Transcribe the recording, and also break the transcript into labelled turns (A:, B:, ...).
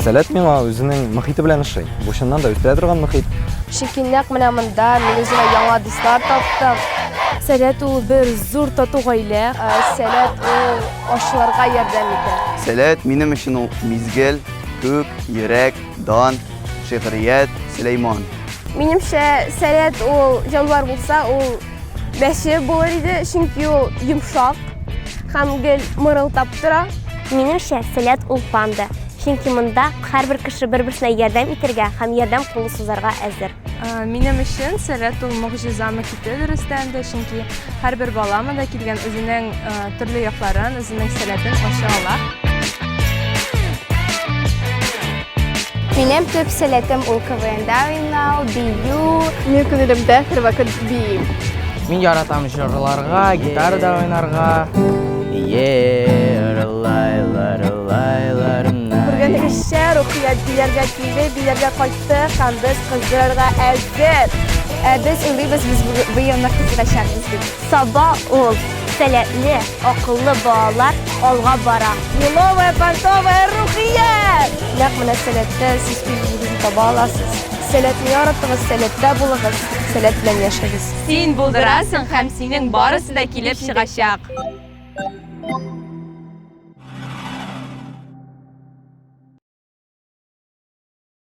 A: Сәләт миңа үзенең мөхите белән ошый. Бу чыннан да үстерә торган мөхит. Чөнки нәкъ менә монда мин үземә яңа дуслар таптым. Сәләт ул бер зур тату гаилә. Ә, Сәләт ул ашларга ярдәм итә. Сәләт минем өчен ул мизгел, күк, йөрәк, Дан, шигърият, Сөләйман. Минемчә, сәләт ул җанвар булса, ул бәче булыр иде, чөнки ул йомшак һәм гел мырылдап тора. Минемчә, сәләт ул панда, чөнки монда һәрбер кеше бер-берсенә ярдәм итәргә һәм ярдәм кулы сузарга әзер. Минем өчен сәләт ул могҗизамы ките дөрестән дә, чөнки һәрбер бала монда килгән үзенең төрле якларын, үзенең сәләтен ача ала. Минем төп сәләтем ул КВНда уйнау, бию. Минем күңелемдә һәрвакыт бию. Мин яратам җырларга, гитарада уйнарга. Йер, лайлар, лайлар. Күргәнегезчә, Рухият бияргә килде, бияргә кайтты. чыкты һәм без кыздырырга әзер. Ә без уйлыйбыз, без быелны кыздырачакбыз дип. Саба ул, сәләтле, акыллы балалар алга бара. Еловая, понтовая, рухия! Нәкъ менә сәләттә сез үзегезне таба аласыз. Сәләтне яратыгыз, сәләттә булыгыз, сәләт белән яшәгез. Син булдырасың һәм синең барысы да килеп чыгачак.